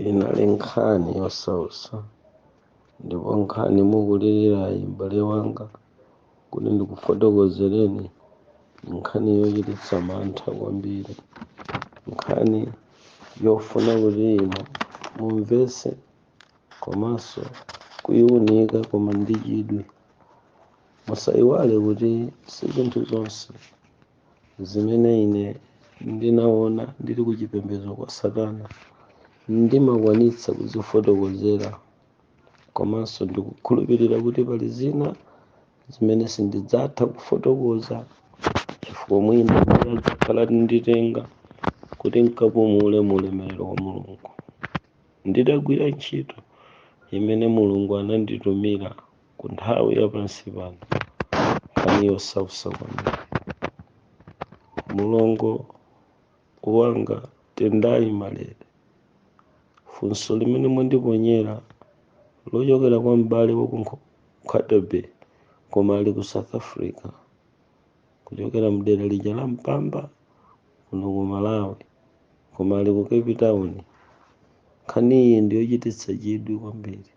inali nkhani yosautsa ndipo nkhani mukulirirayi m'bale wanga kuti ndikufotokozereni nkhani yochititsa mantha kwambiri nkhani yofuna kuti inu mumvetse komanso kuyiunika koma ndi chidwi musayiwale kuti si zinthu zonse zimene ine ndinaona ndili ku chipembedzo kwa satana ndimakwanitsa kuzifotokozera komanso ndikukhulupirira kuti pali zina zimene sindidzatha kufotokoza chifukwa mwina ndiye adzakhala atanditenga kuti nkapumule mu ulemerero wa mulungu nditagwira ntchito imene mulungu ananditumira ku nthawi ya pansi pano nkhani yosausa kwambiri mulongo wanga tendayi malere funso limene mwandiponyera lochokera kwa m'bale wa ku Nkho- Nkhata Bay koma ali ku south africa kuchokera mdera lija la mpamba kuno ku malawi koma ali ku cape town nkhaniyi ndiyochititsa chidwi kwambiri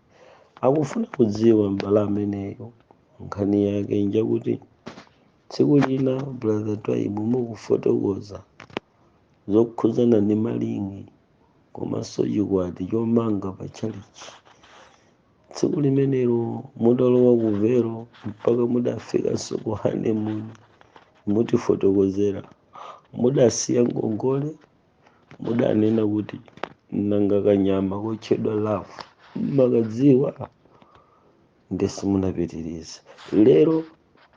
akufuna kudziwa m'bale ameneyo nkhani yake njakuti tsiku lina brother twaibu mukufotokoza zokhudzana ndi malingi komanso chikwati chomanga pa chalichi tsiku limenelo mudalowa ku vero mpaka mudafikanso ku honeymoon mutifotokozera mudasiya ngongole mudanena kuti nanga kanyama kotchedwa love mmakadziwa nde simunapitirize lero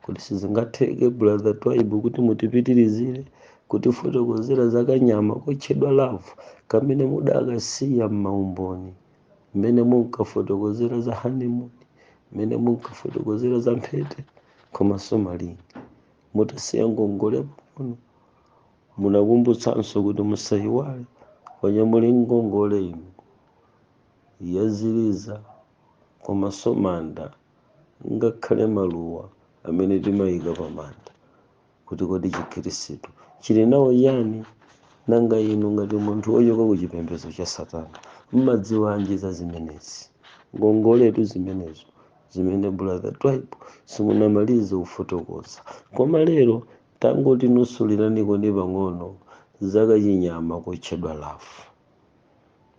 Kodi sizingatheke brother Twaibu kuti mutipitirizire kutifotokozera za kanyama kotchedwa love kamene mudakasiya m'maumboni mmene munkafotokozera za honeymoon mmene munkafotokozera za mphete komanso malingi mudasiya ngongole pang'ono munakumbutsanso kuti musayiwale paja muli ngongole inu ya ziliza komanso manda ngakhale maluwa amene timayika pa manda, kuti kodi chikhristu chili nawo chiyani? Nanga inu ngati munthu wochoka ku chipembedzo cha Satana mmadziwanji za zimenezi? Ngongoletu zimenezo zimene brother Twaibu simunamalize kufotokoza. Koma lero tangotinusulilanikoni pang'ono za kachinyama kotchedwa love.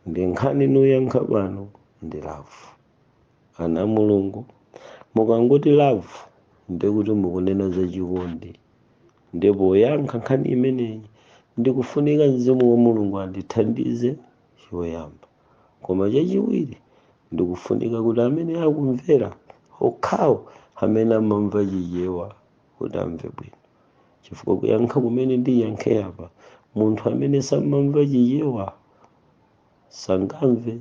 Ndi nkhani ndiyankha pano ndi love. ana mulungu mukangoti love ndekuti mukunena za chikondi ndipo poyankha nkhani imeneyi ndikufunika mzimu wa mulungu andithandize choyamba koma chachiwiri ndikufunika kuti amene akumvera okhawo amene amamva chichewa kuti amve bwino chifukwa kuyankha kumene ndiyankhe apa munthu amene samamva chichewa sangamve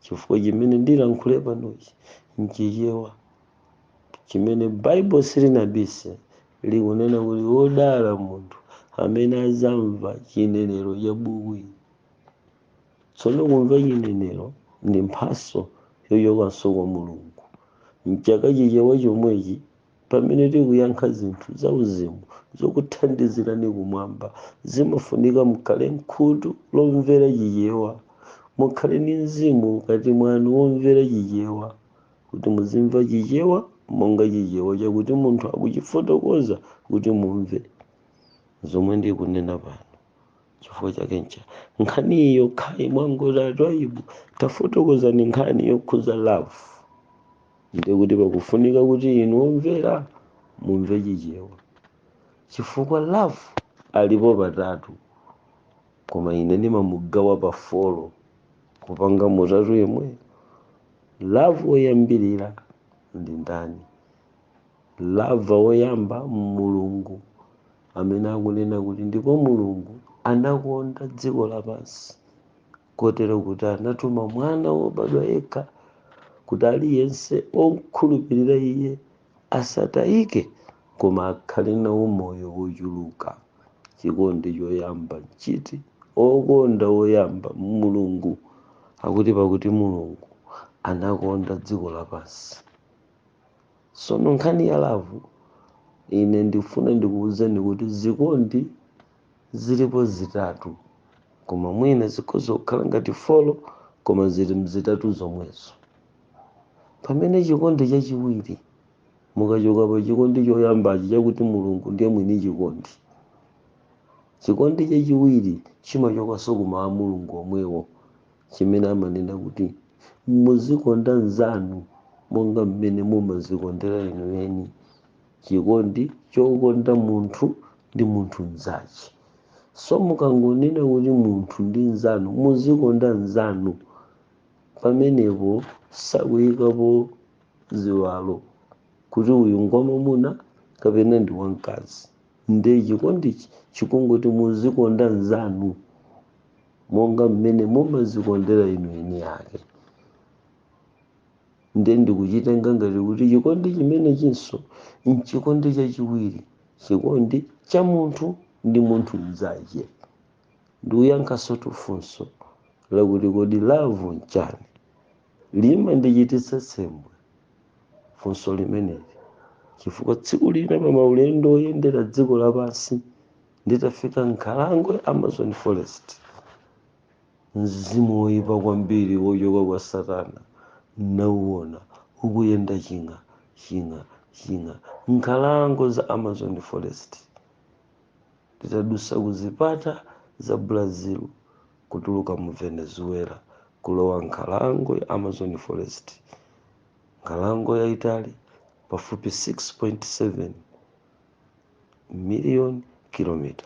chifukwa chimene ndilankhule panochi nchichewa chimene baibulo silinabise likunena kuti wodala munthu amene azamva chinenero cha buku ili tsono kumva chinenero ndi mphaso yochokanso kwa mulungu mu chichewa chomwechi pamene tikuyankha zinthu zauzimu zokuthandizirani kumwamba zimafunika mukhale nkhutu lomvera chichewa mukhale ndi mzimu mkati mwanu womvera chichewa kuti muzimva chichewa monga chichewa chakuti munthu akuchifotokoza kuti mumve zomwe ndikunena pano chifukwa chake ncha nkhani yokhayi mwangoti atwayibu tafotokozani nkhani yokhuza love ndiye kuti pakufunika kuti inu omvera mumve chichewa chifukwa love alipo patatu koma ine ndimamugawa pa folo kupanga mutatu yemweyo love woyambirira ndi ndani love woyamba mulungu amene akunena kuti ndipo mulungu anakonda dziko lapansi kotero kuti anatuma mwana wobadwa yekha kuti aliyense okhulupirira iye asatayike koma akhale nawo moyo wochuluka chikondi choyamba nchiti okonda woyamba mulungu akuti pakuti mulungu anakonda dziko lapansi sono nkhani ya lavu ine ndifuna ndikuwuzeni kuti zikondi zilipo zitatu koma mwina zikhoza kukhala ngati folo koma zili mzitatu zomwezo pamene chikondi chachiwiri mukachoka pa chikondi choyambachi chakuti mulungu ndiye mwini chikondi chikondi chachiwiri chimachokanso kumawu a mulungu omwewo chimene amanena kuti muzikonda mnzanu monga mmene mumazikondera inu eni chikondi chokonda munthu ndi munthu mzache so mukangonena kuti munthu ndi mzanu muzikonda mzanu pamenepo sakuyikapo ziwalo kuti uyu ngwamamuna kapena ndi wamkazi nde chikondichi chikungoti muzikonda mzanu monga mmene mumazikondera inu eni ake ndiye ndikuchitenga ngati kuti chikondi chimenechinso nchikondi chachiwiri chikondi cha munthu ndi munthu mnzache ndikuyankhanso funso lakuti kodi love nchani limandichititsa tsembwe funso limeneli chifukwa tsiku lina pa maulendo oyendera dziko lapansi nditafika nkhalango ya amazon forest mzimu woyipa kwambiri wochoka kwa satana ndauwona ukuyenda ching'a ching'a ching'a nkhalango za amazon forest titadusa ku zipata za brazil kutuluka mu venezuela kulowa nkhalango ya amazon forest nkhalango yayitali pafupi 6.7 million kilomita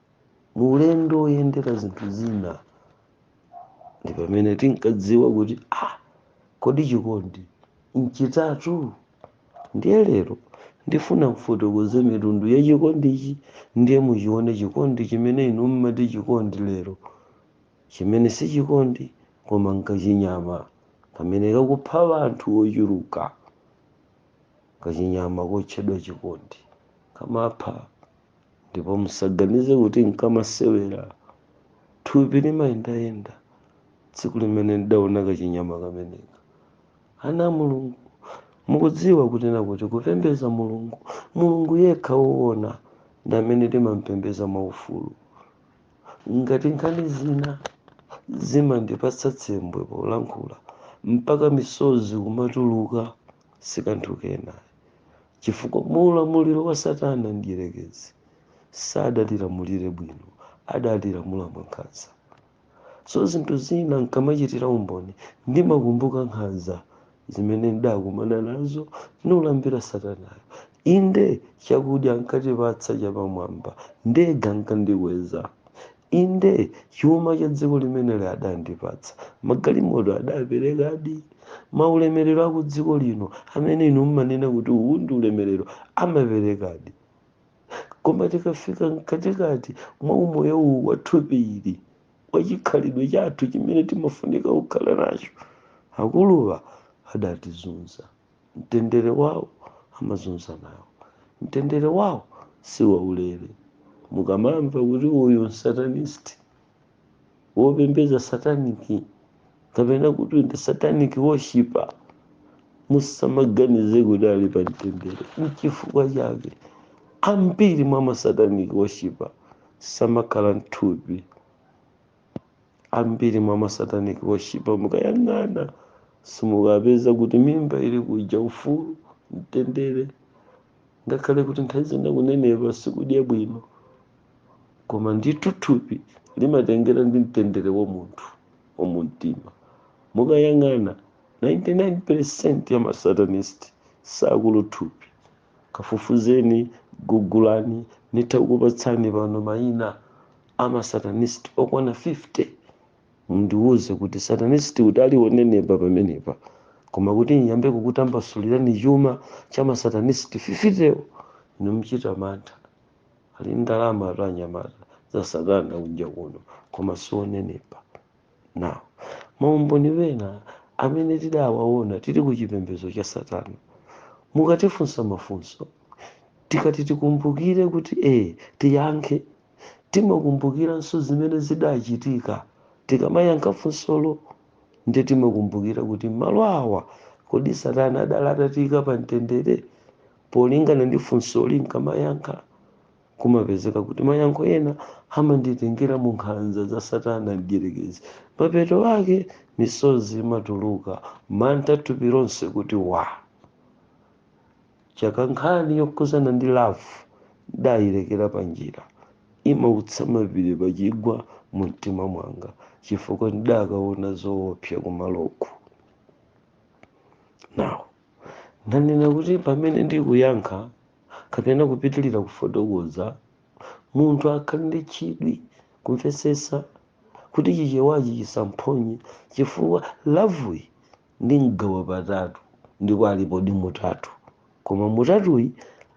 mu ulendo woyendera zinthu zina ndi pamene tinkadziwa kuti ah, kodi chikondi nchitatu ndiye lero ndifuna kufotokoza mitundu ya chikondichi ndiye muchione chikondi chimene inu mmati chikondi lero chimene si chikondi koma nkachinyama kamene kakupha anthu ochuluka kachinyama kotchedwa chikondi kamapha ndipo musaganize kuti nkamasewera thupi limayendayenda tsiku limene ndidaona kachinyama kameneka ana a mulungu mukudziwa kunena kuti kupembedza mulungu mulungu yekha woona ndi amene timampembedza mwaufulu ngati nkhani zina zimandipatsa tsembwe polankhula mpaka misozi kumatuluka sikanthu kena chifukwa mu ulamuliro wa satana mdierekezi sadatilamulire bwino adatilamula mwankhanza so zinthu zina nkamachitira umboni ndimakumbuka nkhanza zimene ndakumana nazo ndikulambira satanayo inde chakudya ankatipatsa chapamwamba ndege ankandikweza inde chuma cha dziko limeneli adandipatsa magalimoto adaperekadi maulemerero aku dziko lino amene inu mmanena kuti uwu ndi ulemerero amaperekadi koma tikafika mkatikati mwa umoyo uwu wa thupi ili wa chikhalidwe chathu chimene timafunika kukhala nacho akuluwa adatizunza mtendere wawo amazunza nawo mtendere wawo si waulere mukamamva kuti uyu msatanist wopembedza satanic kapena kuti ndi satanic worshipper musamaganize kuti ali pa mtendere nchifukwa chake ambiri mwa masatanic worshipper samakhala mthupi ambiri mwa masatanic worshiper mukayang'ana simukapeza kuti mimba ili kuja ufulu mtendere ngakhale kuti nthawi zina kunenepa sikudya bwino koma ndithu thupi limatengera ndi mtendere wa munthu wa mumtima mukayang'ana 99 percent ya masatanist sakulu thupi kafufuzeni gugulani nitha kukupatsani pano mayina amasatanist okwana 50 mundiwuze kuti satanist kuti aliwonenepa pamenepa koma kuti ndiyambe kukutambasulirani chuma cha masatanist 50wo inu mchita mantha ali ndalama atu anyamata za satana kunja kuno koma sionenepa Now, maumboni wena amene tidawaona tili ku chipembedzo cha Satana, mukatifunsa mafunso tikati tikumbukire kuti ee tiyankhe, timakumbukiranso zimene zidachitika tikamayankha funsolo ndiye timakumbukira kuti malo awa kodi Satana adali atatiika pa mtendere polingana ndi funsoli nkamayankha. Kumapezeka kuti mayankho ena amanditengera mu nkhanza za Satana Mdyerekezi. Mapeto ake, misozi imatuluka, mantha thupi lonse kuti wa! Chake nkhani yokhudzana ndi lavu ndayilekera panjira. Imautsa mapiri pa chigwa mu mtima mwanga chifukwa ndidakaona zoopsa kumaloko. Now. ndanena kuti pamene ndikuyankha kapena kupitirira kufotokoza munthu akhale ndi chidwi kumvetsetsa kuti chichewachi chisamphonye chifukwa lavuyi ndi mgawo patatu ndipo alipodi mutatu koma mutatuyi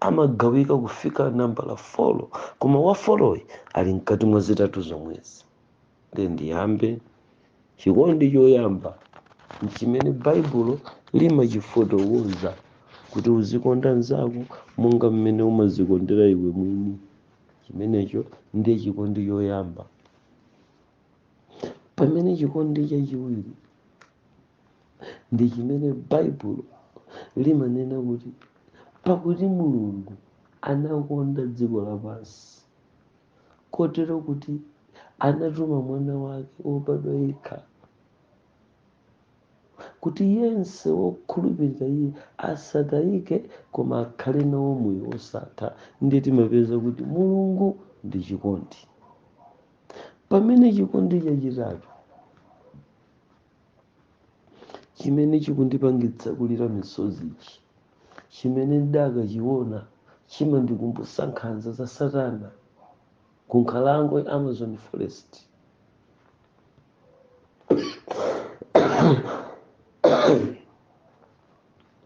amagawika kufika nambala folo koma wa foloyi ali mkati mwa zitatu zomwezi nde ndiyambe chikondi choyamba nchimene baibulo limachifotokoza kuti uzikonda mnzako monga mmene umazikondera iwe mwini chimenecho ndiye chikondi choyamba pamene chikondi chachiwiri ndi chimene baibulo limanena kuti pakuti mulungu anakonda dziko lapansi kotero kuti anatuma mwana wake wobadwa yekha kuti yense wokhulupirira iye asatayike koma akhale nawo moyo wosatha ndiye timapeza kuti mulungu ndi chikondi pamene chikondi chachitatu chimene chikundipangitsa kulira misozichi chimene ndakachiona chimandikumbutsa nkhanza za satana ku nkhalango ya amazon forest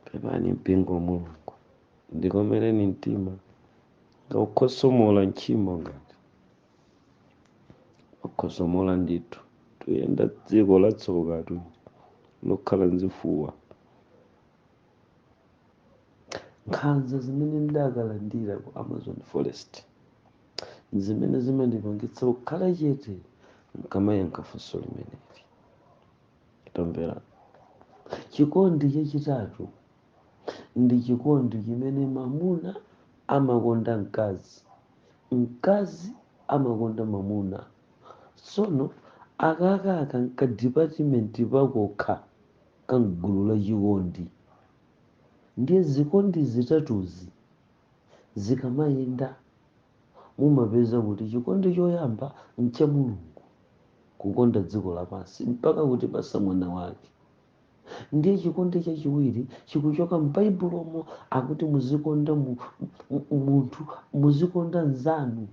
pepani mpingo wa mulungu ndikomereni mtima ngakukhosomola ntchimo ngati wakhosomola ndithu tuyenda dziko latsokatu lokhala nzifuwa nkhanza zimene ndakalandira ku amazon forest zimene zimandipangitsa kukhala chete nkamayankha funso limeneli tamvera chikondi chachitatu ndi chikondi chimene mamuna amakonda mkazi mkazi amakonda mamuna sono akakaka nkadipatimenti pakokha ka mgulu la chikondi ndiye zikondi zitatuzi zikamayenda mumapeza kuti chikondi choyamba ncha mulungu kukonda dziko lapansi mpaka kutipasa mwana wake ndiye chikondi chachiwiri chikuchoka m'baibulomo akuti muzikonda munthu muzikonda mnzanu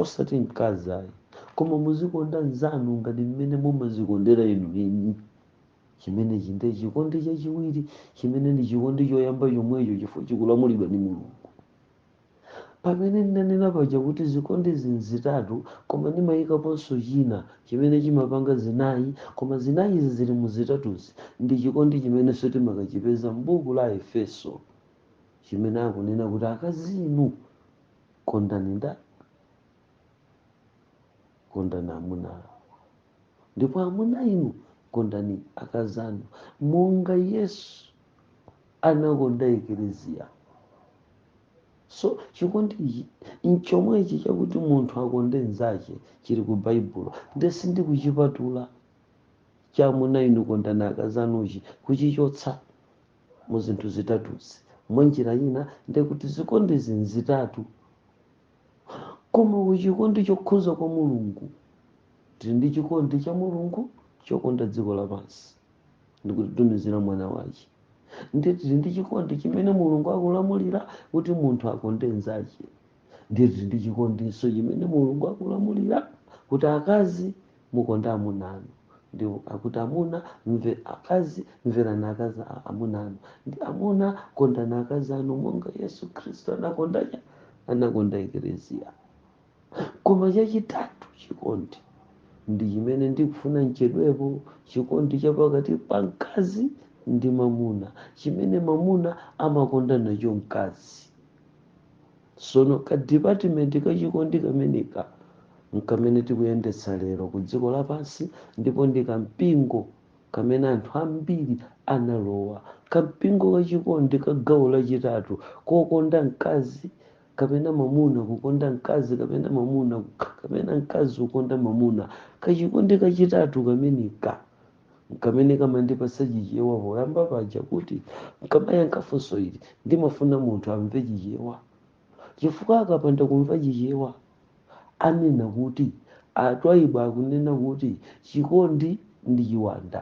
osati mkazi ayi koma muzikonda mnzanu ngati mmene mumazikondera inu eni chimenechi ndiye chikondi chachiwiri chimene ndi chikondi choyamba chomwecho chifukwa chikulamulidwa ndi mulungu Pamene ndinanena paja kuti zikondizi nzitatu koma ndimayikaponso china chimene chimapanga zinayi koma zinayizi zili mu zitatuzi ndi chikondi chimenenso timakachipeza m'buku la Aefeso chimene akunena kuti akazi inu kondani ndani? Kondani amuna anu. ndipo amuna inu kondani akazi anu monga yesu anakonda ekeleziya so chikondi ichi nchomwechi chakuti munthu akonde nzache chili ku baibulo nde sindikuchipatula cha amuna inu kondani akazi anuchi kuchichotsa mu zinthu zitatuzi mwa njira ina ndekuti zikondizi nzitatu koma ku chikondi chokhuza kwa mulungu tili ndi chikondi cha mulungu chokonda dziko lapansi ndikutitumizira mwana wache ndiye tili ndi chikondi chimene mulungu akulamulira kuti munthu akonde nzache ndiye tili ndi chikondinso chimene mulungu akulamulira kuti akazi Mukonde amuna anu, ndipo akuti amuna, mve, akazi, mverani akazi amuna anu, ndi amuna, kondani akazi anu, monga Yesu Khristu anakonda cha anakonda eklesia. Koma chachitatu, chikondi ndi chimene ndikufuna nchedwepo, chikondi cha pakati pa mkazi ndi mamuna, chimene mamuna amakonda nacho mkazi. sono ka department kachikondi kameneka nkamene tikuyendetsa lero ku dziko lapansi ndipo ndi kampingo kamene anthu ambiri analowa kampingo kachikondi ka gawo lachitatu kokonda mkazi kapena mamuna kukonda mkazi kapena mamuna kapena mkazi kukonda mamuna kachikondi kachitatu kameneka Kamene kamandipasa Chichewa poyamba paja kuti n'kamayankha funso ili ndimafuna munthu amve Chichewa chifukwa akapanda kumva Chichewa anena kuti a Twaibu akunena kuti chikondi ndi chiwanda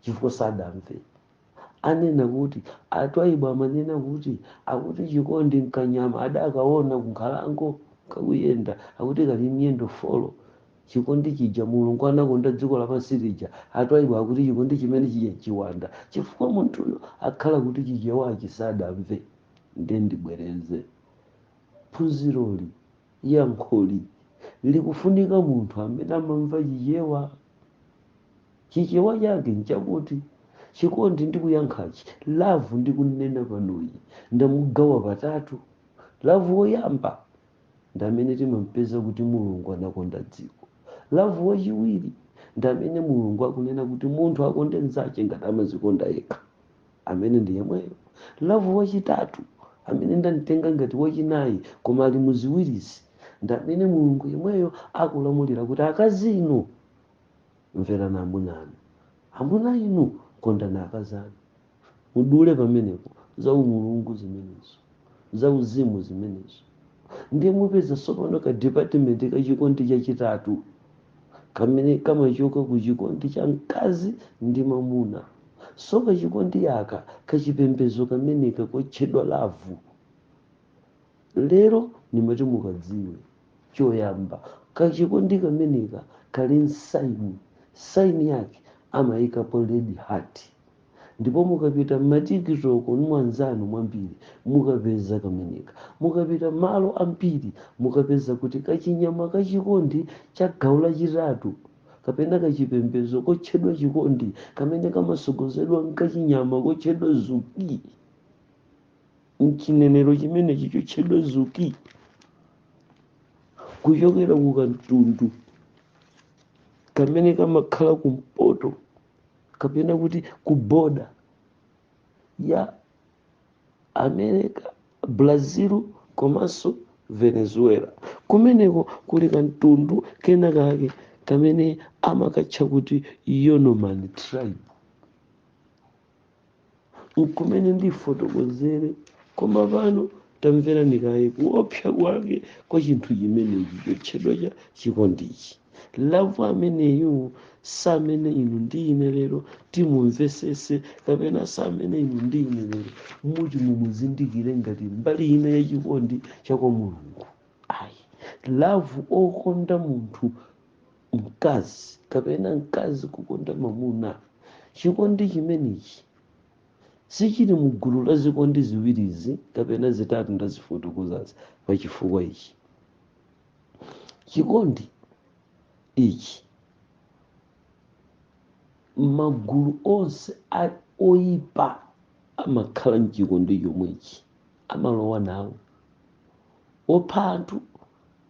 chifukwa sadamve. anena kuti a Twaibu amanena kuti akuti chikondi nkanyama adakaona kunkhalango kakuyenda akuti kali miyendo folo chikondi chija mulungu anakonda dziko lapansi lija a Twaibu akuti chikondi chimene chija nchiwanda chifukwa munthuyo akhala kuti chichewachi sadamve nde ndibwereze phunziroli yankholi likufunika munthu amene amamva chichewa Chichewa chake nchakuti Chikondi ndikuyankhachi, love ndikunena panoyi, ndamugawa patatu. Love woyamba ndamene timampeza kuti Mulungu anakonda dziko. Love wachiwiri ndamene Mulungu akunena kuti munthu akonde mnzache ngati amazikonda yekha. Amene ndi yemweyo. Love wachitatu, amene ndamtenga ngati wachinayi koma ali mu ziwirizi, ndamene Mulungu yemweyo akulamulira kuti akazi inu, mverani amuna anu. Amuna inu, kondani akazi anu. Mudule pamenepo za umulungu zimenezo, za uzimu zimenezo. Ndiye mupeza tsopano ka department ka chikondi chachitatu kamene kamachoka ku chikondi cha mkazi ndi mamuna. So kachikondi aka kachipembezo kameneka kotchedwa lavu Lero nimati mukadziwe choyamba kachikondi kameneka kali n'sign sign yake amayikapo red heart ndipo mukapita mmatikitoko mwanzanu mwambiri mukapeza kameneka mukapita malo ambiri mukapeza kuti kachinyama ka chikondi cha gawo lachitatu kapena kachipembezo kotchedwa chikondi kamene kamasogozedwa nkachinyama kotchedwa zuki mchinenero chimenechi chotchedwa zuki kuchokera ku kamtundu kamene kamakhala kumpoto kapena kuti ku boda ya america brazil komanso venezuela kumeneko kuli kamtundu kena kake kamene amakatcha kuti yanomami tribe nkumene ndifotokozere koma pano tamverani kaye kuopsa kwake kwa chinthu chimenechi chotchedwa cha chikondichi lavu ameneyu samene inu ndi ine lero timumvesese kapena samene inu ndi ine lero muti mumuzindikire ngati mbali ina ya chikondi cha kwa mulungu ayi lavu okonda munthu mkazi kapena mkazi kukonda mamuna chikondi chimenechi sichili mu gulu la zikondi ziwirizi kapena zitatu ndazifotokozazi pa chifukwa ichi chikondi ichi magulu onse oyipa amakhala mchikondi chomwechi amalowa nawo opha anthu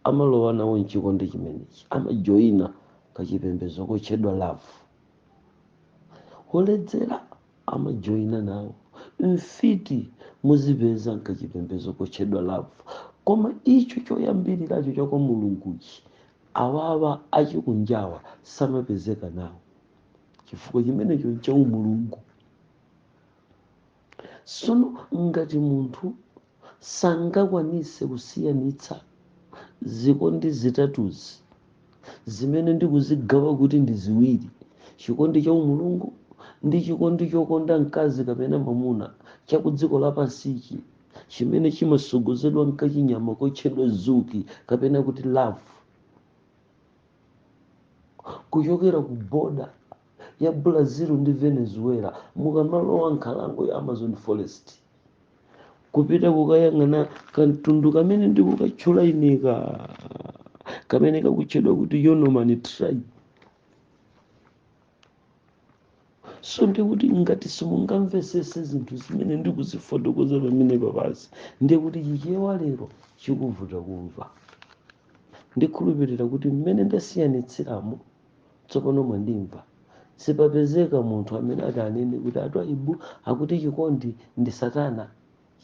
amalowa nawo m'chikondi chimenechi, amajoina kachipembedzo kotchedwa love. Oledzera amajoina nawo, mfiti muzipeza m'kachipembedzo kotchedwa love. Koma icho choyambiriracho cha kwa Mulunguchi, awawa achikunjawa samapezeka nawo, chifukwa chimenecho nchaumulungu. sono ngati munthu sangakwanise kusiyanitsa zikondi zitatuzi zimene ndikuzigawa kuti ndi ziwiri chikondi cha umulungu ndi chikondi chokonda mkazi kapena mamuna cha ku dziko lapansichi chimene chimasogozedwa mkachinyama kotchedwa zuki kapena kuti love kuchokera ku boda ya Brazil ndi Venezuela, mukamalowa nkhalango ya Amazon forest kupita kukayang'ana kamtundu kamene ndikukatchula ineka kamene kakutchedwa kuti Yanomami tribe. so ndikuti ngati simungamvesese zinthu zimene ndikuzifotokoza pamene panozi ndiye kuti chichewa lero chikuvuta kumva ndikhulupirira kuti mmene ndasiyanitsiramo tsopano mwandimva sipapezeka munthu amene ati anene kuti atwaibu akuti chikondi ndi satana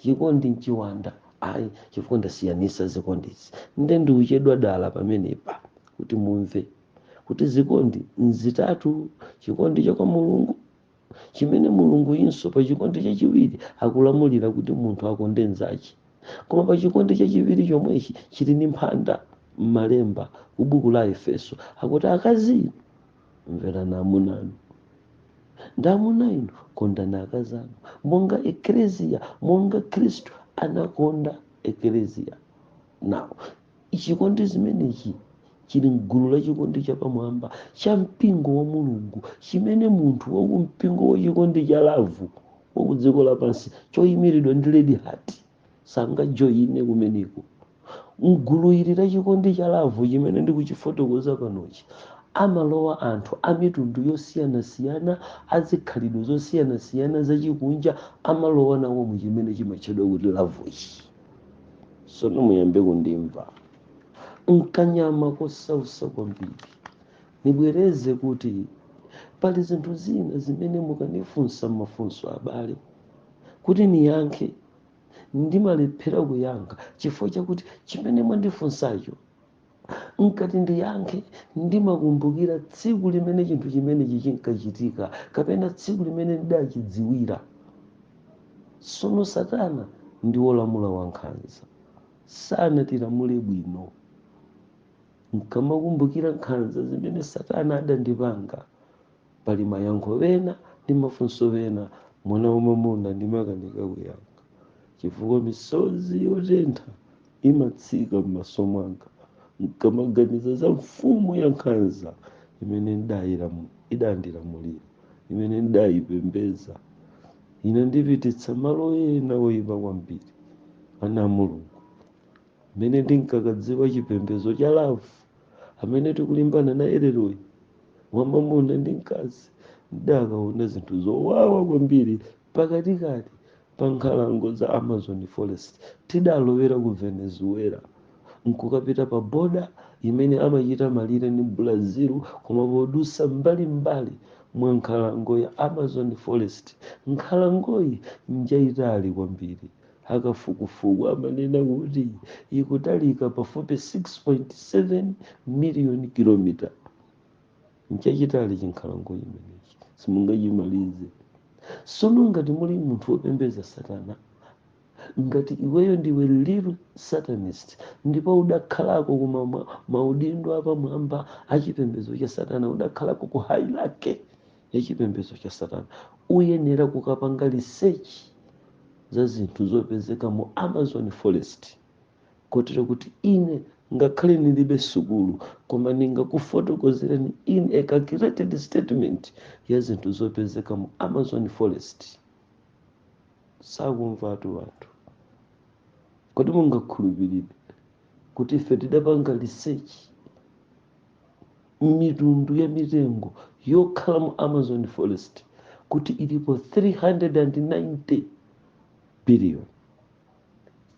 chikondi nchiwanda ayi chifukwa ndasiyanisa zikondizi nde ndikuchedwa dala pamenepa kuti mumve kuti zikondi nzitatu chikondi cha kwa mulungu chimene mulungu inso pa chikondi chachiwiri akulamulira kuti munthu akonde nzache koma pa chikondi chachiwiri chomwechi chili ndi mphanda m'malemba ku buku la efeso akuti akazi inu mverani amuna anu ndi amuna inu kondani akazi anu monga ekleziya monga khristu anakonda ekleziya nawo chikondi zimenechi chili mgulu la chikondi chapamwamba cha mpingo wa mulungu chimene munthu waku mpingo wa chikondi cha lavu waku dziko lapansi choyimiridwa ndi red heart sangajoyine kumeneko mgulu ili la chikondi cha lavu chimene ndikuchifotokoza panochi amalowa anthu a mitundu yosiyanasiyana azikhalidwe zosiyanasiyana zachikunja amalowa nawo mu chimene chimatchedwa kuti lavuchi sono muyambe kundimva nkhani yanga yosautsa kwambiri nibwereze kuti pali zinthu zina zimene mukanifunsa mafunso abale kuti niyankhe ndimalephera kuyankha chifukwa chakuti chimene mwandifunsacho nkamati ndiyankhe ndimakumbukira tsiku limene chinthu chimenechi chinkachitika kapena tsiku limene ndidachidziwira sono satana ndi wolamula wankhanza sanatilamule bwino nkamakumbukira nkhanza zimene satana adandipanga pali mayankho pena ndi mafunso pena mwana wamwamuna ndimakanika kuyankha chifukwa misozi yotentha imatsika m'maso mwanga nkamaganiza za mfumu ya nkhanza imene idandilamulira imene ndidayipembedza inandipititsa malo ena oyipa kwambiri ana a mulungu mmene ndinkakadziwa chipembedzo cha lavu amene tikulimbana naye leroyi wa mwamuna ndi mkazi ndidakaona zinthu zowawa kwambiri pakatikati pa nkhalango za amazon forest tidalowera ku venezuela nkukapita pa boda imene amachita malire ndi brazil koma podusa mbalimbali mwa nkhalango ya amazon forest nkhalangoyi njayitali kwambiri Akafukufuku amanena kuti ikutalika pafupi 6.7 miliyoni kilomita. Nchachitali chinkhalango chimenechi, simungachimalize. Sono ngati muli munthu wopembeza satana, ngati iweyo ndiwe little satanist ndipo udakhalako ku ma- maudindo apamwamba a chipembedzo cha satana, udakhalako ku hierarchy ya chipembedzo cha satana uyenera kukapanga research za zinthu zopezeka mu amazon forest kotero kuti ine ngakhale ndilibe sukulu koma ndingakufotokozereni in a calculated statement ya zinthu zopezeka mu amazon forest sakumvatu wanthu kodi mungakhulupirire kuti ife tidapanga research mitundu ya mitengo yokhala mu amazon forest kuti ilipo 390 billion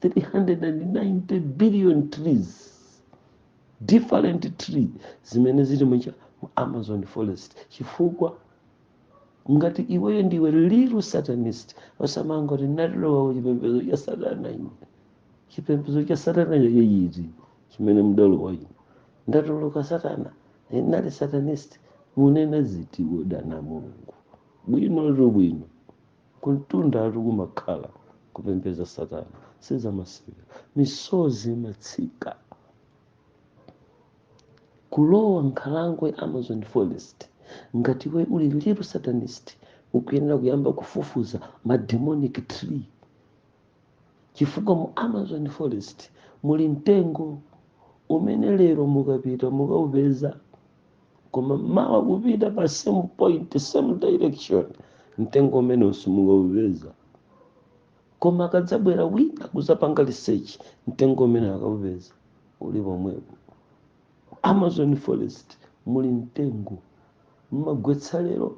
390 billion trees different tree zimene zili mu cha- mu amazon forest chifukwa ngati iweyo ndiwe real satanist osamangoti ndalowa kuchipembedzo cha satana ine chipembedzo cha satana cha tchetchi iti chimene mudalowa inu ndatuluka satana ndinali satanist munena ziti wodana mulungu bwinotu bwino kumtundatu kumakhala kupembeza satana sizamasewera misozi imatsika kulowa nkhalango ya amazon forest ngati iwe uli real satanist ukuyenera kuyamba kufufuza ma demonic tree chifukwa mu amazon forest muli mtengo umene lero mukapita mukaupeza koma mawa kupita pa same point same direction mtengo umeneu simukaupeza koma akadzabwera wina kuzapanga research mtengo umeneu akaupeza uli pomwepo amazon forest muli mtengo mmagwetsa lero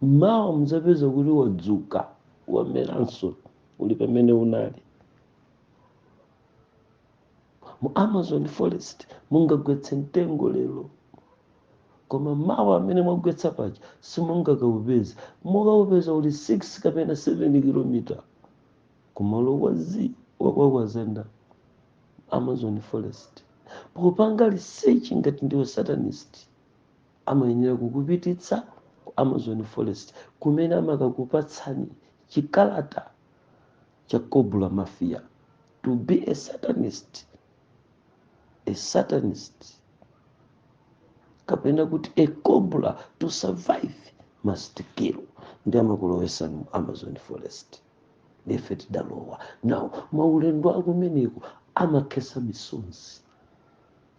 mawa muzapeza kuti wadzuka wameranso uli pamene unali mu amazon forest mungagwetse mtengo lero koma mawa pamene mwagwetsa paja simungakaupeza mukaupeza uli 6 kapena 7 kilomita kumalo wazi wakwawazenda amazon forest popanga research ngati ndiwe satanist Amayenera kukupititsa ku Amazon Forest kumene amakakupatsani chikalata cha Cobra Mafia. To be a Satanist, a Satanist kapena kuti a Cobra to survive must kill ndi amakulowesani mu Amazon Forest. Nde ife tidalowa. Now maulendo akumeneko amakhesa misozi.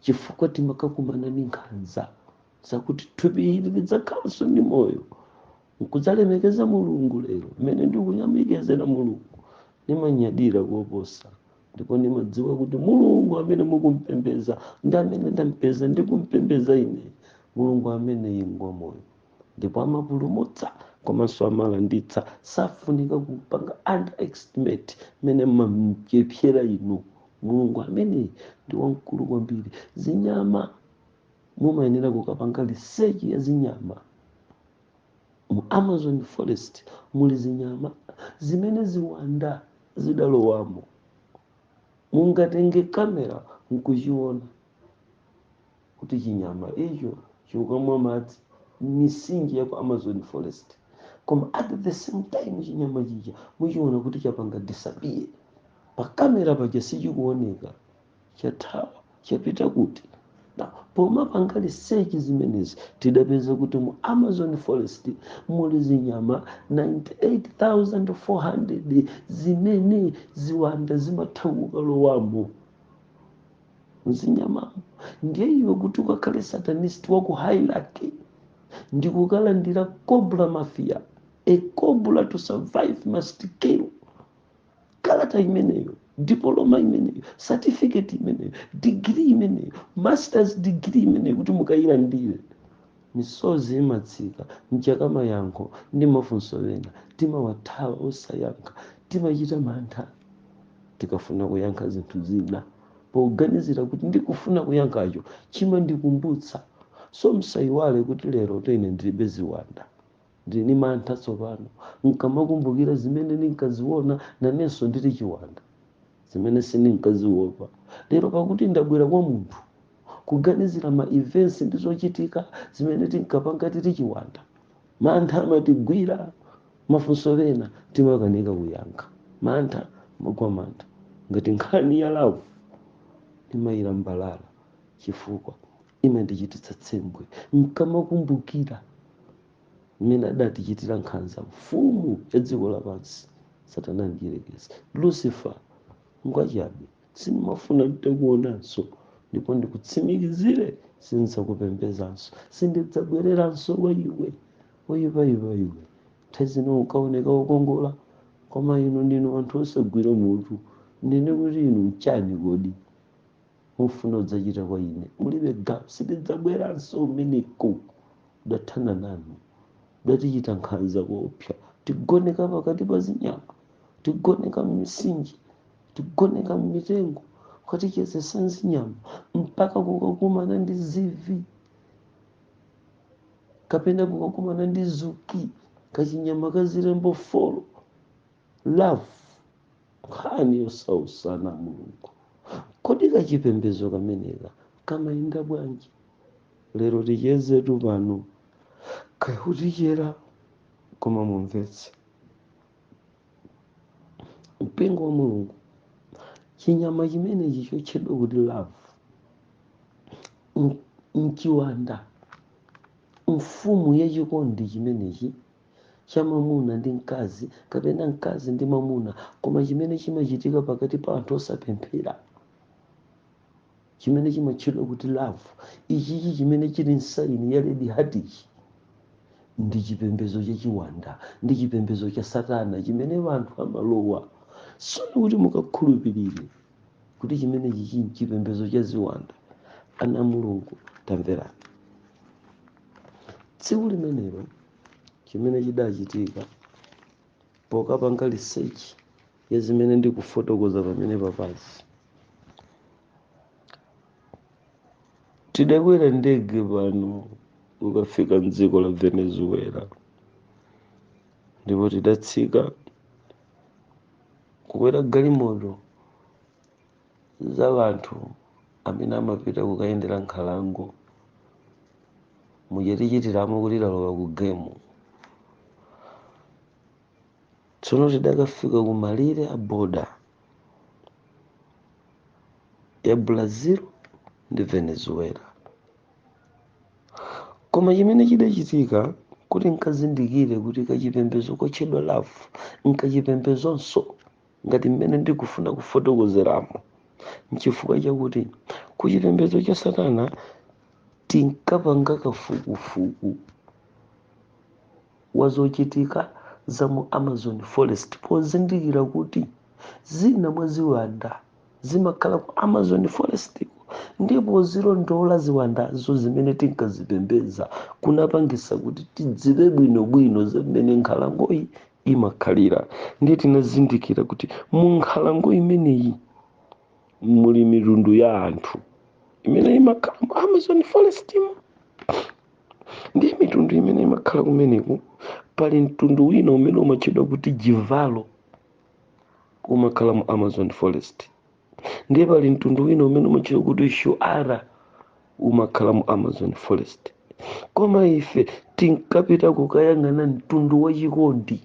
chifukwa timakakumana ndi nkhanza zakuti thupi ili lidzakhalanso ndi moyo nkudzalemekeza mulungu lero mmene ndikuyamikezera mulungu ndimanyadira koposa ndipo ndimadziwa kuti mulungu amene mukumpembeza ndi amene ndampeza ndikumpembeza ine mulungu ameneyi ngwa moyo ndipo amapulumutsa komanso amalanditsa safunika kupanga underestimate mmene mumamuchepsera inu mulungu ameneyu ndi wamkulu kwambiri zinyama mumayenera kukapanga research ya zinyama mu amazon forest muli zinyama zimene ziwanda zidalowamo mungatenge kamera nkuchiona kuti chinyama icho chikukumwa madzi m'mitsinje ya ku amazon forest koma at the same time chinyama chija muchiona kuti chapanga disappear pakamera paja sichikuoneka chathawa chapita kuti na pomapanga research zimenezi tidapeza kuti mu amazon forest muli zinyama 98400 zimene ziwanda zimatha kukalowamo mzinyamamo ndiye iwe kuti ukakhale satanist wa ku hierarchy ndikukalandira cobra mafia a cobra to survive must kill kalata imeneyo diploma imeneyo certificate imeneyo degree imeneyo masters degree imeneyo kuti mukayilandire Misozi imatsika chifukwa mayankho ndi mafunso ena timawathawa osayankha. Timachita mantha tikafuna kuyankha zinthu zina poganizira kuti ndikufuna kuyankhacho chimandikumbutsa. So musaiwale kuti lerotu ine ndilibe ziwanda. Ndili ndi mantha tsopano. N'kamakumbukira zimene ndinkaziona, nanenso ndili chiwanda, zimene sindinkaziopa. Lero pakuti ndabwera kwa munthu, kuganizira ma events ndi zochitika zimene tinkapanga tili chiwanda, mantha amatigwira. Mafunso ena timakanika kuyankha. Mantha, timagwa mantha. Ngati nkhani ya love, ndimayilambalala chifukwa. imandichititsa tsembwe nkamakumbukira mmene adatichitira nkhanza mfumu ya dziko lapansi satana mdyerekezi lucifer ngwachabe sindimafuna nditakuonanso ndipo ndikutsimikizire sindidzakupembezanso sindidzabwereranso kwa iwe oyipayipa iwe nthawi zino ukaoneka wokongola koma inu ndinu anthu osagwira mutu nde ndikuti inu nchani kodi mufuna mudzachite kwa ine mulibe gawo sindidzabweranso kumeneko ndathana nanu udatichita nkhanza koopsa tigoneka pakati pa zinyama tigoneka m'mitsinje tigoneka m'mitengo ukatichezesa nzinyama mpaka kukakumana ndi zivi kapena kukakumana ndi zuki kachinyama ka zilembo folo love nkhani yosausana mulungu kodi kachipembedzo kameneka kamayenda bwanji lero tichezetu mpaka kutichera koma mumvetse mpingo wa mulungu chinyama chimenechi chotchedwa kuti love nchiwanda mfumu yachikondi chimenechi cha mwamuna ndi mkazi kapena mkazi ndi mwamuna koma chimene chimachitika pakati pa anthu osapemphera chimene chimatchedwa kuti love ichichi chimene chili m'saini ya red heart ndi chipembedzo chachiwanda ndi chipembedzo cha satana chimene wanthu amalowa tsono kuti mukakhulupirire kuti chimenechichi nchipembedzo cha ziwanda ana a mulungu tamverani tsiku limenelo chimene chidachitika pokapanga research ya zimene ndikufotokoza pamene paphazi tidakwera ndege pano kukafika mdziko la venezuela ndipo tidatsika kukwera galimoto za wanthu amene amapita kukayendera nkhalango muchitichitiramo kuti talowa ku gemu tsono tidakafika ku malire a boda ya brazil ndi venezuela koma chimene chidachitika kuti nkazindikire kuti kachipembedzo kotchedwa love nkachipembedzonso ngati mmene ndikufuna kufotokozeramo nchifukwa chakuti ku chipembedzo cha satana tinkapanga kafukufuku wa zochitika za mu amazon forest pozindikira kuti zina mwa ziwanda zimakhala ku amazon forest ndipo kulondola ziwandazo zimene tinkazipembedza kunapangitsa kuti tidziwe bwinobwino za mmene nkhalangoyi imakhalira ndiye tinazindikira kuti mu nkhalango imeneyi muli mitundu ya anthu imene imakhala mu amazon forest mu ndiye mitundu imene imakhala kumeneku pali mtundu wina umene umatchedwa kuti jivaro umakhala mu amazon forest ndiye pali mtundu wina umene umatchedwa kuti shuar umakhala mu amazon forest koma ife tinkapita kukayang'ana mtundu wa chikondi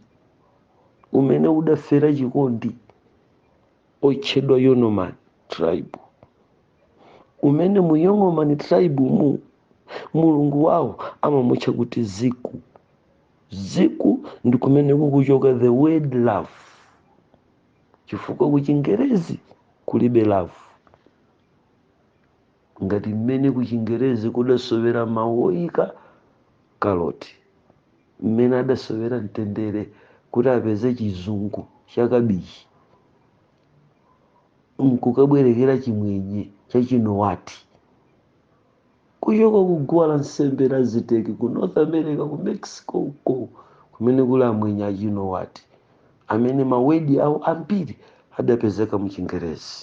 umene udafera chikondi otchedwa yanomami tribe umene mu yanomami tribe mu mulungu wawo amamutcha kuti ziku ziku ndi kumene kukuchoka the word love chifukwa kuchingerezi kulibe love ngati mmene kuchingerezi kudasowera mawu oyika kaloti mmene adasowera mtendere kuti apeze chizungu cha kabichi nkukabwerekera chimwenye cha chinawati Kuchoka ku guwa la nsembe la Aziteki ku North America, ku Mexico uko kumene kuli amwenye a Chinawati, amene mawedi awo ambiri adapezeka mu Chingerezi.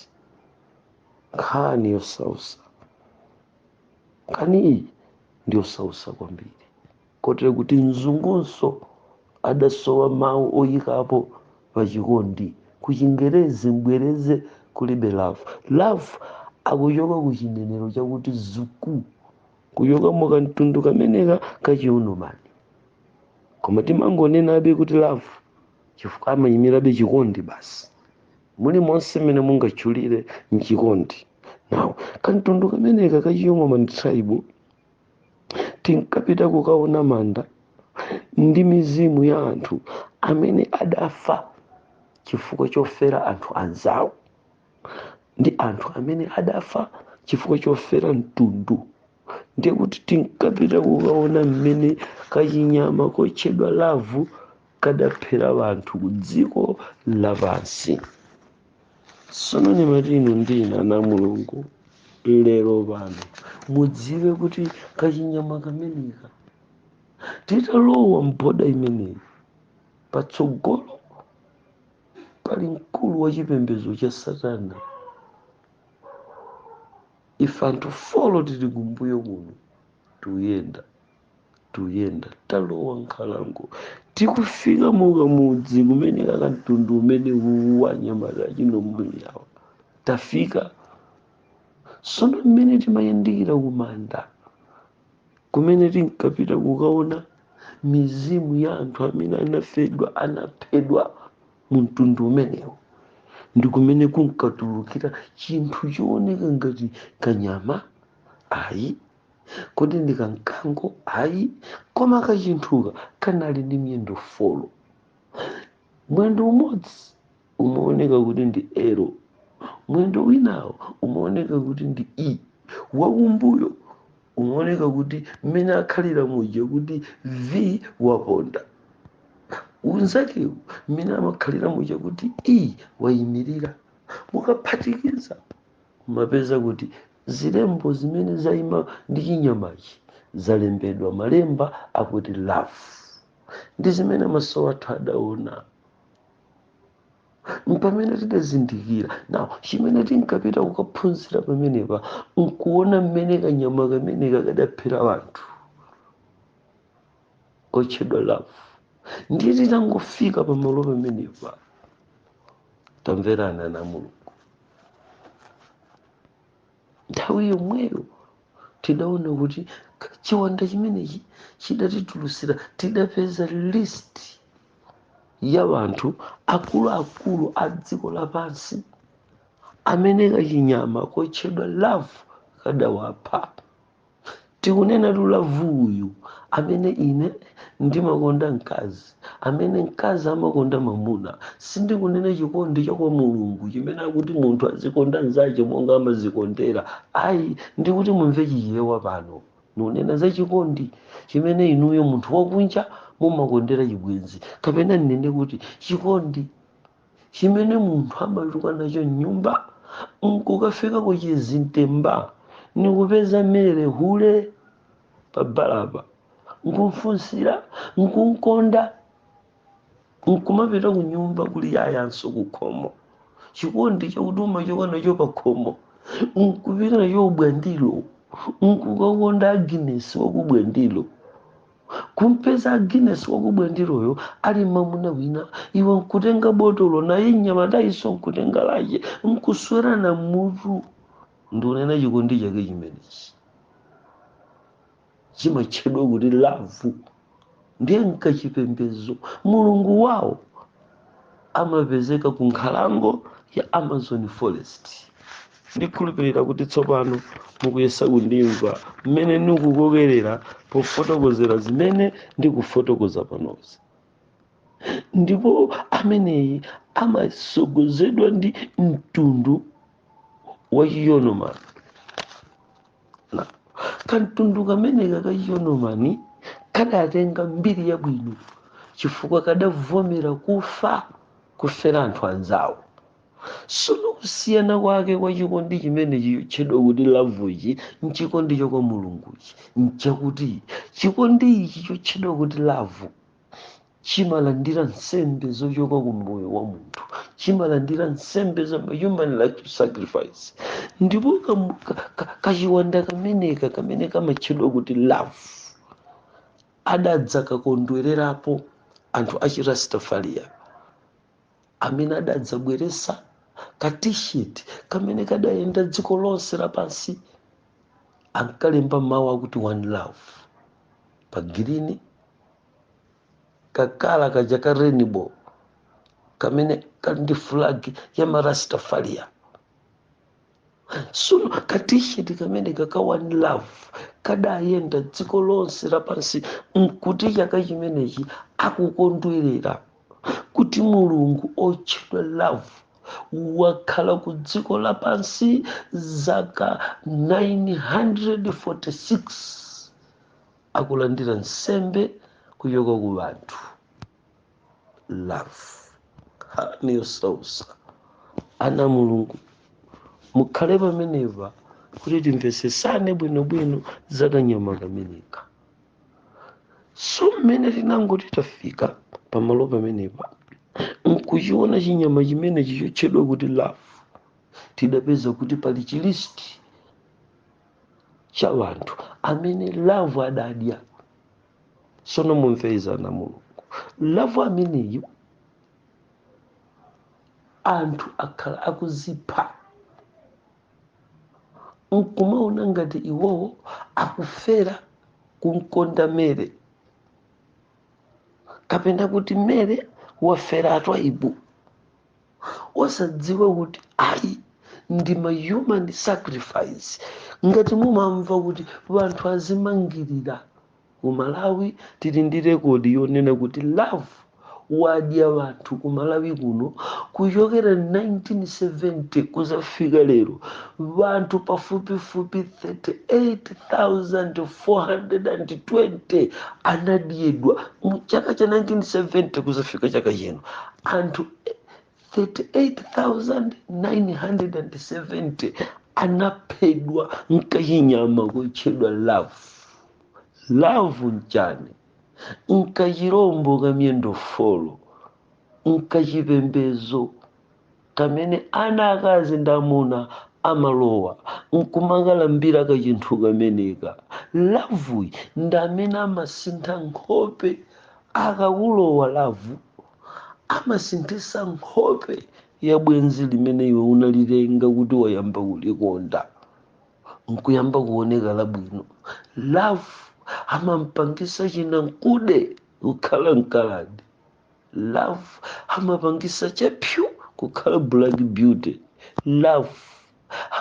Nkhani yosausa. Nkhaniyi ndi yosausa kwambiri. kotero kuti mzungunso adasowa mawu oyikapo pa chikondi ku chingerezi mbwereze kulibe love love akuchoka ku chinenero chakuti zuku kuchoka mu kamtundu kameneka kachiyunomani koma timangonenabe kuti love chifukwa amayimirabe chikondi basi mulimonse mmene mungatchulire mchikondi now kamtundu kameneka kachiyunomani tribe tinkapita kukaona manda ndi mizimu ya anthu amene adafa chifukwa chofera anthu anzawo ndi anthu amene adafa chifukwa chofera mtundu ndiye kuti tinkapita kukaona mmene kachinyama kotchedwa lavu kadaphera anthu ku dziko lapansi sono mumati inu ndinu ana a mulungu lero pano mudziwe kuti kachinyama kameneka titalowa mboda imeneyi patsogolo pali mkulu wa chipembedzo cha satana ife anthu folo tili kumbuyo kuno tikuyenda tuyenda talowa nkhalango tikufika mukamudzi kumene kakamtundu umene uwu wa anyamata achinombuliyawa tafika sono mmene timayandikira kumanda kumene tinkapita kukaona mizimu ya anthu amene anafedwa anaphedwa mu mtundu umenewo ndi kumene kunkatulukira chinthu chooneka ngati kanyama ayi kodi ndi kamkango ayi koma kachinthuka kanali ndi miyendo folo mwendo umodzi umaoneka kuti ndi elo mwendo winawo umaoneka kuti ndi e wakumbuyo umaoneka kuti mmene akhalira muja kuti v waponda unzakewu mmene amakhalira muja kuti e wayimirira mukaphatikiza mumapeza kuti zilembo zimene zaima ndi chinyamachi zalembedwa malemba akuti love ndi zimene maso athu adaona mpamene tidazindikira nawo chimene tinkapita kukaphunzira pamenepa nkuona mmene kanyama kameneka kadaphera wanthu kotchedwa love ndiye titangofika pamalo pamenepa tamverana na mulungu nthawi yomweyo tidaona kuti k- chiwanda chimenechi chidatitulusira tidapeza list ya wanthu akuluakulu a dziko lapansi amene kachinyama kotchedwa love kadawapha tikunenatu lavu uyu amene ine ndimakonda mkazi amene mkazi amakonda mamuna sindikunena chikondi cha kwa mulungu chimene akuti munthu azikonda mzache monga amazikondera ayi ndikuti mumve chichewa pano nunena za chikondi chimene inuyo munthu wakunja mumakondera chibwenzi kapena nnene kuti chikondi chimene munthu amachoka nacho mnyumba nkukafika ku chizintemba nkumpeza mere hule pa balapa nkumfunsira nkumkonda nkumapita ku nyumba kuli yayanso ku khomo chikondi chakuti umachoka nacho pa khomo nkupita nacho ku bwandilo nkukakonda agnes waku bwandilo kumpeza agnes waku bwandiloyo ali mamuna wina iwe nkutenga botolo naye mnyamatayoso nkutenga lache nkuswerana mutu ndikunena chikondi chake chimenechi chimatchedwa kuti lavu ndiye nkachipembedzo mulungu wawo amapezeka ku nkhalango ya amazon forest ndikhulupirira kuti tsopano mukuyesa kundimva mmene ndikukokerera pofotokozera zimene ndikufotokoza panozi ndipo ameneyi amasogozedwa ndi mtundu wa chiyanomami kamtundu kameneka ka chiyanomami kadatenga mbiri yabwino chifukwa kadavomera kufa kufera anthu anzawo sono kusiyana kwake kwa chikondi chimenechi chotchedwa kuti lavuchi nchikondi cha kwa mulunguchi nchakuti chikondi ichi chotchedwa kuti lavu chimalandira nsembe zochoka ku moyo wa munthu chimalandira nsembe za human life sacrifice ndipo kam- ka- ka- kachiwanda kameneka kamene kamatchedwa kuti love adadzakakondwererapo anthu achirastafaria amene adadzabweresa ka t-shirt kamene kadayenda dziko lonse lapansi ankalemba mawu akuti one love pa green kakala kaja ka rainbow kamene kali ndi flag ya marastafaria so ka t-shirt kameneka ka one love kadayenda dziko lonse lapansi nkuti chaka chimenechi akukondwerera kuti mulungu otchedwa love wakhala ku dziko lapansi zaka 946 akulandira nsembe kuchoka ku wanthu love nkhani yosausa ana mulungu mukhale pamenepa kuti timvesesane bwinobwino za kanyama kameneka so mmene tinangoti tafika pamalo pamenepa nkuchiona chinyama chimenechi chotchedwa kuti love tidapeza kuti pali chilisti cha wanthu amene love adadya sono mumvetse ana mulungu love ameneyu anthu akhala akuzipha nkumaona ngati iwowo akufera kumkonda Mary kapena kuti Mary wafera Twaibu osadziwa kuti ayi ndi ma human sacrifice ngati mumamva kuti wanthu azimangirira Ku Malawi tili ndi record yonena kuti Love wadya wanthu ku Malawi kuno kuchokera 1970 kuzafika lero wanthu pafupifupi 38,420 anadyedwa mu chaka cha 1970 kuzafika chaka chino anthu 38,970 anaphedwa nkachinyama kotchedwa love love nchani nkachirombo ka miyendo folo nkachipembezo kamene ana akazi ndi amuna amalowa nkumakalambira kachinthu kameneka loveyu ndi amene amasintha nkhope akakulowa love amasinthisa nkhope ya bwenzi limene iwe unalitenga kuti wayamba kulikonda nkuyamba kuoneka labwino love amampangisa chinankude kukhala mkaladi love amapangisa chakuda kukhala black beauty love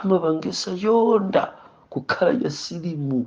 amapangisa choonda kukhala chasilimu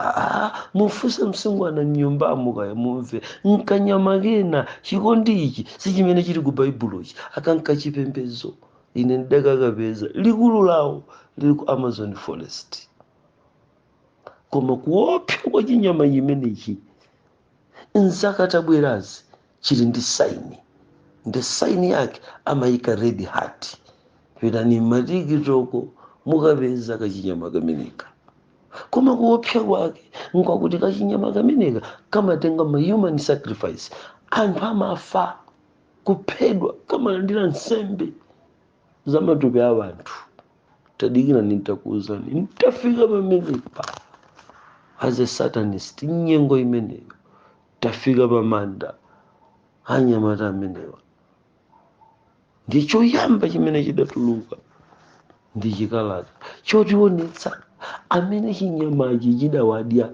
Ah, mufunse msungwana mnyumbamo kaya mumve nkanyama kena chikondi ichi si chimene chili ku baibulochi akanka chipembedzo ine ndidakakapeza likulu lawo lili ku amazon forest koma kuopsa kwa chinyama chimenechi nzaka tabwerazi chili ndi saini ndi saini yake amayika red heart pitani mmatikitoko mukapeza kachinyama kameneka koma kuopsa kwake nkwakuti kachinyama kameneka kamatenga ma human sacrifice anthu amafa kuphedwa kamalandira nsembe za matupi a anthu tadikira ndikuuzeni nditafika pamenepa as a satanist nyengo imeneyo tafika pamanda anyamata amenewa ndi choyamba chimene chidatuluka ndi chikalata chotionetsa amene chinyamachi chidawadya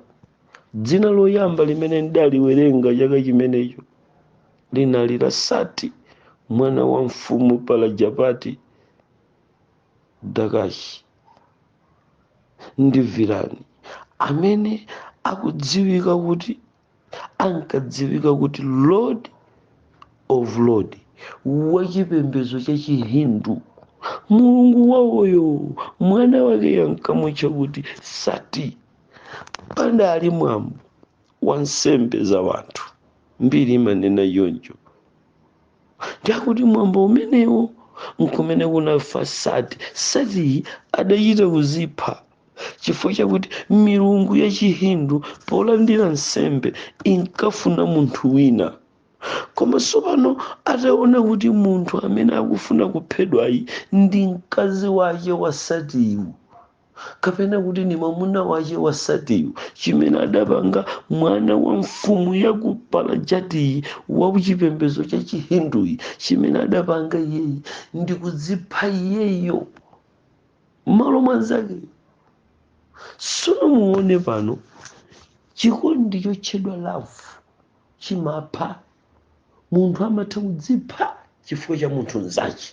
dzina loyamba limene ndidaliwerenga chaka chimenecho linali la sati mwana wa mfumu palajapati Daksha ndi Virani amene akudziwika kuti ankadziwika kuti lord of lord wa chipembedzo cha chihindu mulungu wawoyo mwana wake yankamutcha kuti sati pandali mwambo wa nsembe za wanthu mbiri imanena choncho ndi yakuti mwambo umenewo nkumene kunafa sati satiyi adachita kuzipha chifukwa chakuti milungu ya chihindu polandira nsembe inkafuna munthu wina koma tsopano ataona kuti munthu amene akufuna kuphedwayi ndi mkazi wake wa satiyu kapena kuti ni mwamuna wache wa satiyu chimene adapanga mwana wa mfumu ya ku palajatiyi wa chipembedzo cha chihinduyi chimene adapanga iyeyi ndi kudzipha iyeyo m'malo mwa nzakeyo sono muone pano chikondi chotchedwa love chimapha munthu amatha kudzipha chifukwa cha munthu mzache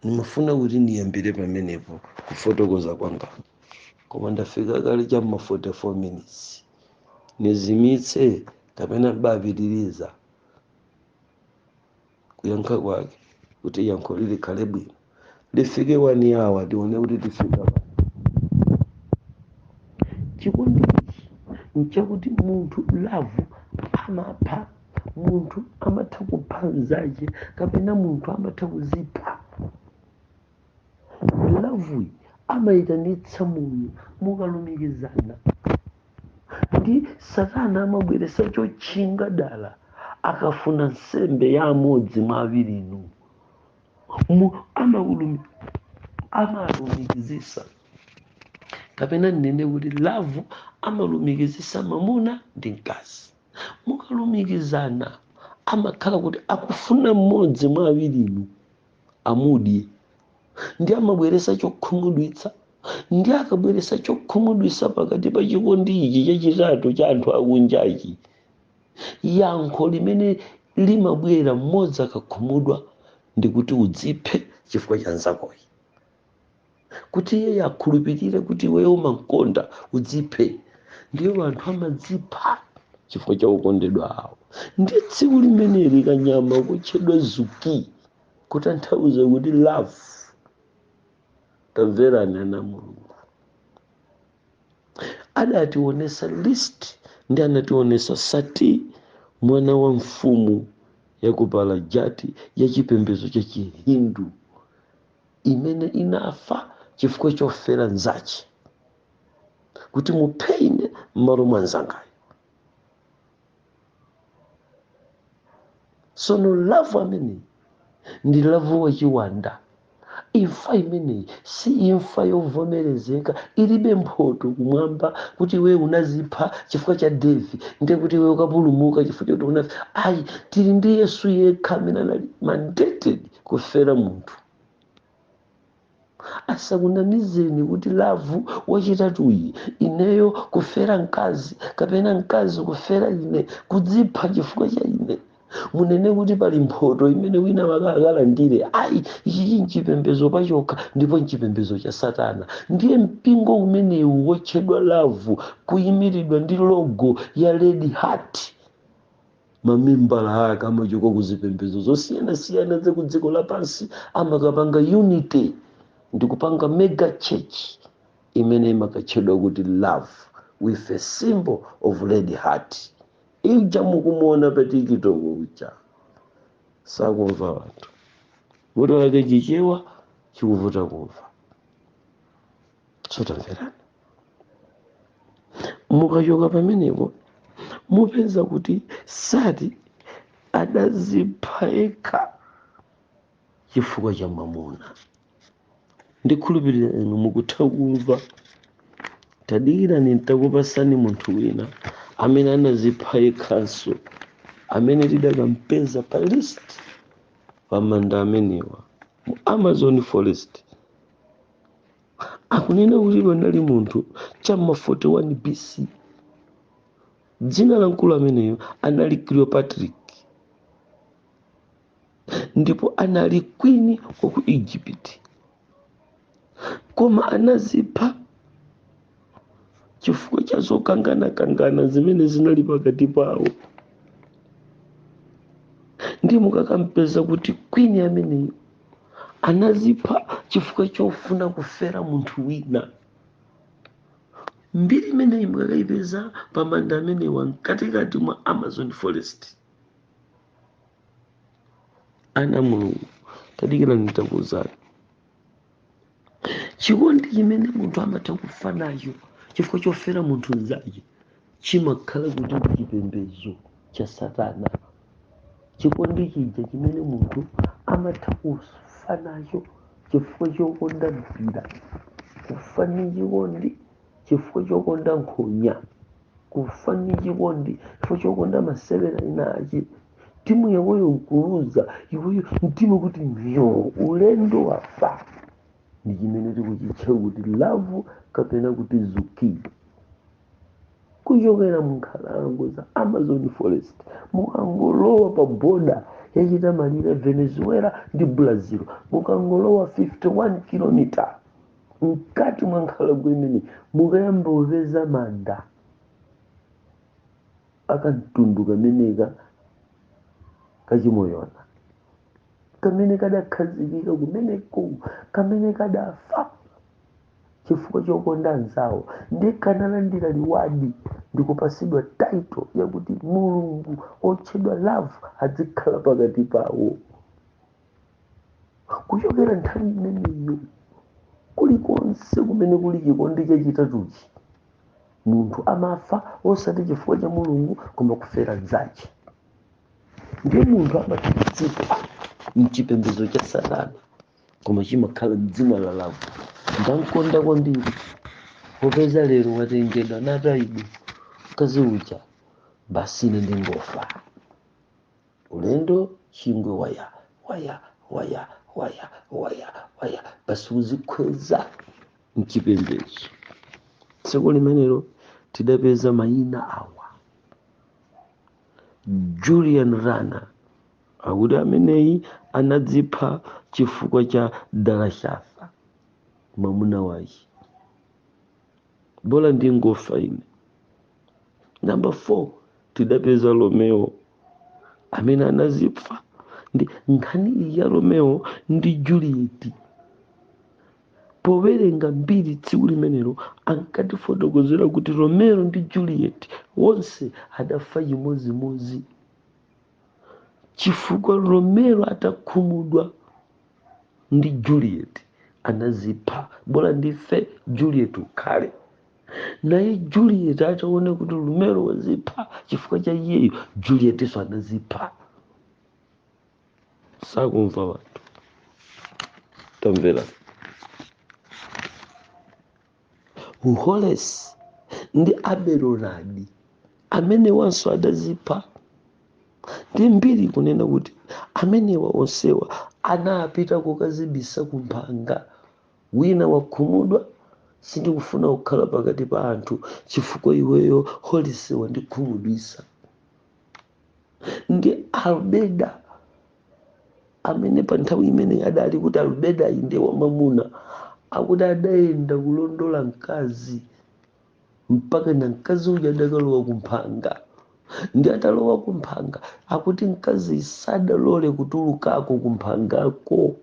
ndimafuna kuti ndiyambire pamenepo kufotokoza kwanga koma ndafika kale cha ma 44 minutes nizimitse kapena mbapitiriza kuyankha kwake kuti yankho lilikhale bwino lifike 1 hour tione kuti tifika pa chikondi ichi nchakuti munthu love amapha munthu amatha kupha mzache kapena munthu amatha kuzipha loveyi amayitanitsa moyo mukalumikizana ndi satana amabweresa chotchinga dala akafuna nsembe ya amodzi mwa awirinu amalumikizisa kapena nnene kuti love amalumikizisa mamuna ndi mkazi mukalumikizana amakhala kuti akufuna mmodzi mwa awirinu amudye ndi amabweresa chokhumudwitsa ndi akabweresa chokhumudwitsa pakati pa chikondi ichi chachitatu cha anthu akunjachi yankho limene limabwera mmodzi akakhumudwa ndikuti udziphe chifukwa cha nzakoyi kuti iye akhulupirire kuti iweyo umamkonda udziphe ndiyo anthu amadzipha chifukwa cha okondedwa awo ndi tsiku limeneli kanyama kotchedwa zuki kutanthauza kuti love tamverani ana mulungu adationesa list ndi anationesa sati mwana wa mfumu ya ku palajati ya chipembedzo cha chihindu imene inafa chifukwa chofera nzache kuti muphe ine m'malo mwa nzangayo sono love ameneyi ndi love wachiwanda imfa imeneyi si imfa yovomerezeka ilibe mphoto kumwamba kuti iwe unazipha chifukwa cha devi ndiye kuti iwe ukapulumuka chifukwa choti unafa ayi tili ndi yesu yekha amene anali mandated kufera munthu asakunamizeni kuti love wachitatuyi ineyo kufera mkazi kapena mkazi kufera ine kudzipha chifukwa cha ine munene kuti pali mphoto imene wina wake akalandire ayi ichichi nchipembezo pachokha ndipo nchipembezo cha satana ndiye mpingo umenewu wotchedwa love kuyimiridwa ndi logo ya red heart mamembala ake amachoka ku zipembedzo zosiyanasiyana za ku dziko lapansi amakapanga unity ndi kupanga mega church imene imakatchedwa kuti love with a symbol of red heart ija mukumuona pa tiktok uja sakumva wanthu vuto lake chichewa chikuvuta kumva sotamverani mukachoka pamenepo mupeza kuti sati adazipha yekha chifukwa cha mamuna ndikhulupirira inu mukutha kumva tadikirani ntakupasani munthu wina amene anazipha yekhanso amene tidakampeza pa list pamanda amenewa mu amazon forest akunena kuti panali munthu chamma 41 bc dzina la mkulu ameneyo anali cleopatra ndipo anali queen wa ku egypt koma anazipha chifukwa cha zokanganakangana zimene zinali pakati pawo ndi mukakampeza kuti queen ameneyo anazipha chifukwa chofuna kufera munthu wina mbiri imeneyi mukakayipeza pa manda amenewa mkatikati mwa amazon forest ana a mulungu tadikirani ntakuwuzani chikondi chimene munthu amatha kufa nacho chifukwa chofera munthu mnzache chimakhala kuti ndi chipembedzo cha satana chikondi chija chimene munthu amatha kufa nacho chifukwa chokonda mpira kufa ndi chikondi chifukwa chokonda nkhonya kufa ndi chikondi chifukwa chokonda masewera ena ache timu yakoyo nkuluza iweyo mtima kuti nyo ulendo wafa ndi chimene tikuchitcha kuti love kapena kuti zuki kuchokera munkhalango za amazon forest mukangolowa pa boda yachita malire venezuela ndi brazil mukangolowa 51 kilomita mkati mwa nkhalango imeneyi mukayamba kupeza manda akamtundu kameneka kachimoyona kamene kadakhazikira kumeneko kamene kadafa chifukwa chokonda anzawo ndi kanalandira reward ndikupasidwa title yakuti mulungu otchedwa love adzikhala pakati pawo kuchokera nthawi imeneyo kulikonse kumene kuli chikondi chachitatuchi munthu amafa osati chifukwa cha mulungu koma kufera mzache ndiye munthu amadzipha mchipembedzo cha satana koma chimakhala mdzina la lavu ndamkonda kwambiri popeza lero watengedwa natayidwa mkazi uja basi ine ndingofa ulendo chingwe waya waya waya waya waya waya basi kuzikhweza mchipembedzo tsiku limenelo tidapeza mayina awa julian rana akuti ameneyi anadzipha chifukwa cha dalashafa mwamuna wake bola ndingofa ine namba 4 tidapeza romeo amene anazipha ndi nkhani iyi ya romeo ndi juliet powerenga mbiri tsiku limenelo ankatifotokozera kuti romeo ndi juliet wonse adafa chimodzimodzi chifukwa romeo atakhumudwa ndi juliet anazipha bola ndife juliet ukhale naye juliet ataona kuti romeo wazipha chifukwa cha iyeyo julietinso anazipha sakumva wanthu tamvera Holesi ndi Aberonadi amenewanso adazipha ndi mbiri kunena kuti amenewa onsewa anapita kukadzibisa kumphanga wina wakhumudwa sindikufuna kukhala pakati pa anthu chifukwa iweyo holise wandikhumudwisa nde albeda amene pa nthawi imeneyi adali kuti albeda inde wamamuna akuti adayenda kulondola mkazi mpaka na mkazi uja adakalowa kumphanga nde atalowa kumphanga akuti mkazi sadalole kutulukako kumphangako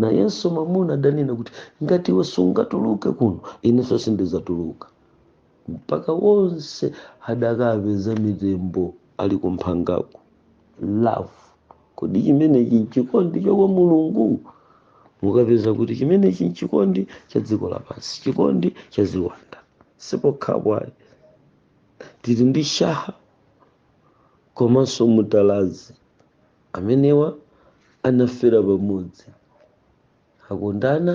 Nayenso mwamuna adanena kuti, Ngati iwe sungatuluke kuno, inenso sindidzatuluka. Mpaka onse adakapeza mitembo ali kumphangako. Love. Kodi chimenechi nchikondi cha kwa Mulungu? Mukapeza kuti chimenechi nchikondi cha dziko lapansi, chikondi cha ziwanda. Siokhawo ayi, tili ndi shaha komanso mutalazi. Amenewa anafera pamodzi. Akondana,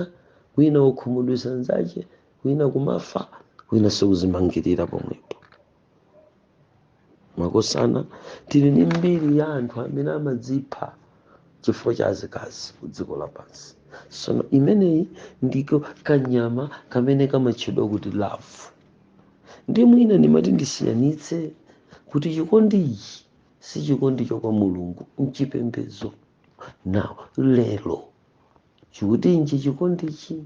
wina wokhumudwitsa mnzache, wina kumafa, winanso kuzimangirira pomwepo. Makosana, tili ndi mbiri ya anthu amene amadzipha chifukwa cha azikazi ku dziko lapansi. Tsono imeneyi ndiko kanyama kamene kamatchedwa kuti lavu. Ndi mwina ndimati ndisiyanitse kuti chikondichi sichikondi cha kwa mulungu mchipembedzo now lero chikuti nji chikondichi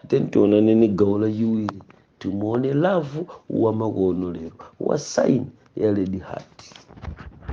then tionane ni gawo lachiwiri timuone lavu wamakono lero wa sign ya red heart